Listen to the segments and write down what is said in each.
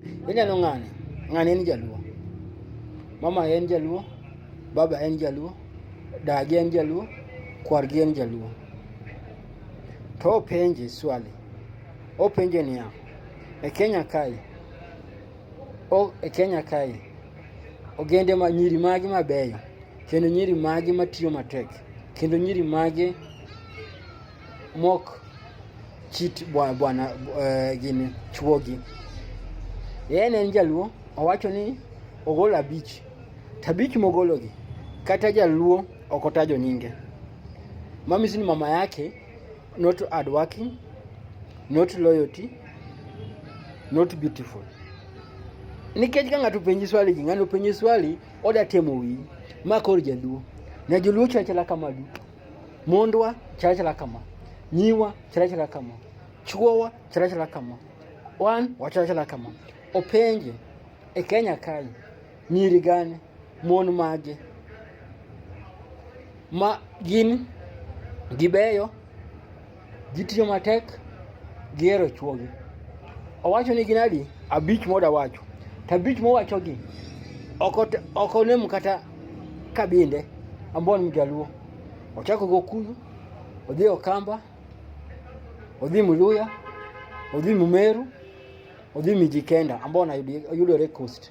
Ineno ng'ani, ng'ani en jaluo. Mama en jaluo, baba en jaluo, dagi en jaluo, kwargi en jaluo. To openje swali, openje niya, e Kenya kae, o, e Kenya kae, ogende ma nyiri magi mabeyo, kendo nyiri magi matiyo matek, kendo nyiri magi mok chit bwana bwana uh, gini chuogi. Yeye ne en jaluo owacho ni ogolo abich tabich mogologi kata jaluo okotajo nyinge mamisi ni mama yake not hard working not loyalty not beautiful nikech ka ng'ato penji swali ji ng'ano penji swali oda temo wiyi ma koro jaluo na joluo chachela kama duto mondwa chirachira kama nyiwa chirachira kama chuowa chirachira kama wan wachirachira kama openje e kenya kae nyiri gane mon mage ma gin gibeyo Ji tiyo matek gihero chwogi. Owacho ni ginadi abich moda wacho. To abich mowachogi ok onem kata kabinde ambon mjaluo. Ochako gi Okuyu, odhi Okamba, odhi Muluya, odhi Mumeru, odhi Mijikenda ambao yudore Coast.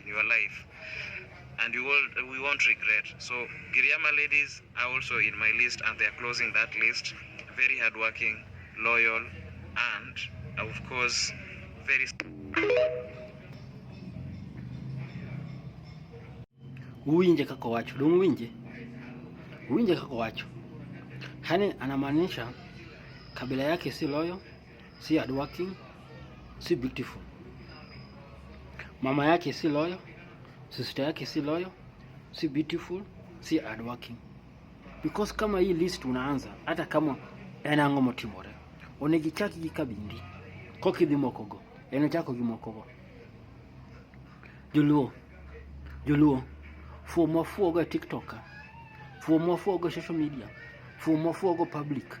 in your life and you will, we won't regret. So Giriama ladies are also in my list and they are closing that list. Very hardworking, loyal and of course very uwinje kako wacho dong uwinje uwinje kako wacho hani anamaanisha kabila yake si loyo si hardworking, si beautiful. Mama yake si loyo, sister yake si loyo, si beautiful, si hardworking. Because kama hii list unaanza hata kama enango motimore onegichaki gi kabindi kokidhi mokogo en ochako gi mokogo joluo joluo fuo mwafuogo e tiktok fuo mwafuogo e social media fuo mwafuogo public